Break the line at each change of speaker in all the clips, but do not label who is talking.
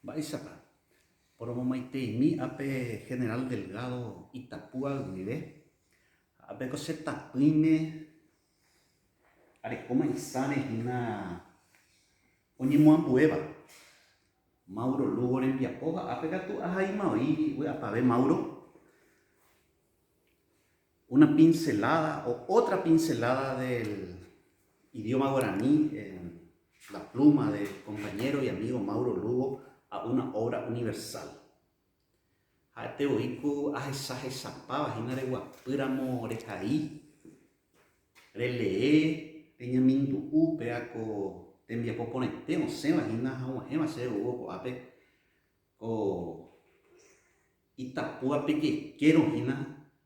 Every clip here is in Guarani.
Mba'éichapa poromomaiteimi ape General Delgado Itapúa guive, ha apeko che tapỹime Arekóma Isare hína oñemoambuéva. Mauro Lugo rembiapo ha ápe katu ahaima oĩ vy'apavẽ Mauro. Una pincelada o otra pincelada del idioma guaraní en la pluma del compañero y amigo Mauro Lugo a una obra universal. Ha'ete voi ko ahechahechapáva hína reguapy ramo rehai, relee, reñemindu'u péva ko tembiapo porãite osẽva hína hag̃uahẽva chéve oúvo ko'ápe, ko itapúva pe jekérõ hína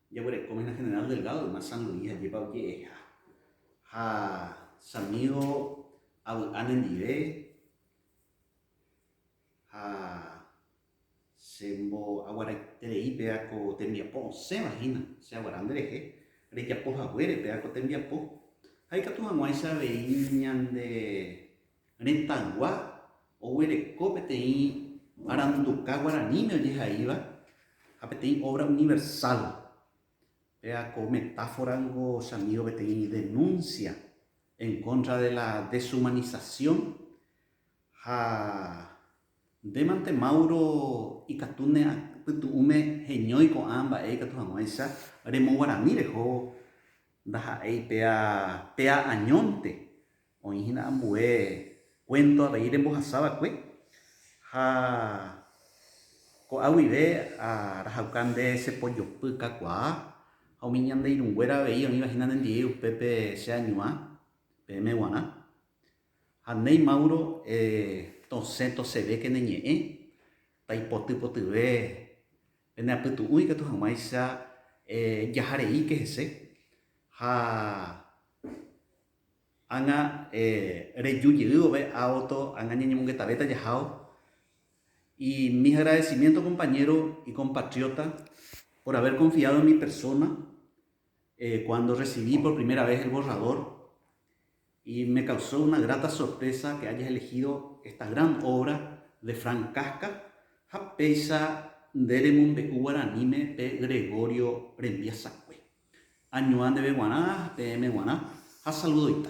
jaguerekóma hína General Delgado yma San Luis ajépa oje'eha. Ha che amígo avy'a nendive. Ha che mbo'aguaraiterei péva ko tembiapo osẽva hína che aguara nderehe, rejapo haguére péva ko tembiapo, ha ikatu hag̃uáicha avei ñande retãygua oguereko peteĩ aranduka guaraníme ojehaíva ha peteĩ obra universal, péva ko metáfora niko che amígo peteĩ denuncia en contra de la deshumanización Ha ndémante Mauro ikatu ne pytu'ũme heñói ko'ã mba'e ikatu hag̃uáicha remoguarani reho ndaha'éi péa péa añónte, oĩ hína ambue kuénto avei rembohasa va'ekue, ha ko'a guive arahauka nde che pojopy kakuaa, ha umi ñande irũnguéra avei oĩva hína nendive upépe che añuã, peẽme guarã, Ha néi Mauro tosẽ tosẽvéke ne ñe'ẽ, taipoty potyve pene apytu'ũ ikatu hag̃uáicha jahareíke hese, ha ág̃a reju jey vove auto ág̃a ñañemongetavéta jahao, y mis agradecimientos compañero y compatriota por haber confiado en mi persona cuando recibí por primera vez el borrador Y me causó una grata sorpresa que hayas elegido esta gran obra de Frank Kafka ha péicha nde remombe'u guaraníme pe Gregorio rembiasakue. Añuã ndeve guarã, peẽme guarã ha saludoita.